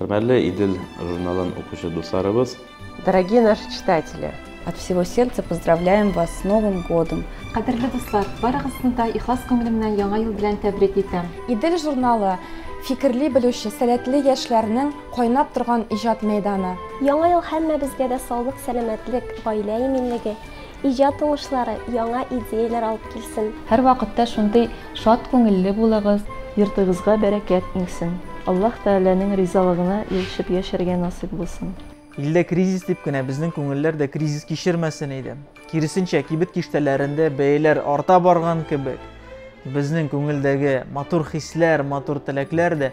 Хөрмәтле Идел журналын укучы дусларыбыз! Дорогие наши читатели! От всего сердца поздравляем вас с Новым годом! Кадерле дуслар, барыгызны да ихлас күңелемнән Яңа ел белән тәбрик итәм! Идел журналы, фикерли белүче, сәләтле яшьләрнең кайнап торган иҗат мәйданы. Яңа ел һәммәбезгә дә саулык, сәламәтлек, гаилә иминлеге, Иҗат уңышлары, яңа идеяләр алып килсен. Һәрвакытта шундый шат күңелле булыгыз. Йортыгызга бәрәкәт иңсен. Аллаһ Тәгаләнең ризалыгына ирешеп яшәргә насыйп булсын. Илдә кризис дип кенә безнең күңелләр дә кризис кичермәсен иде. Киресенчә, кибет киштәләрендә бәяләр арта барган кебек, безнең күңелдәге матур хисләр, матур теләкләр дә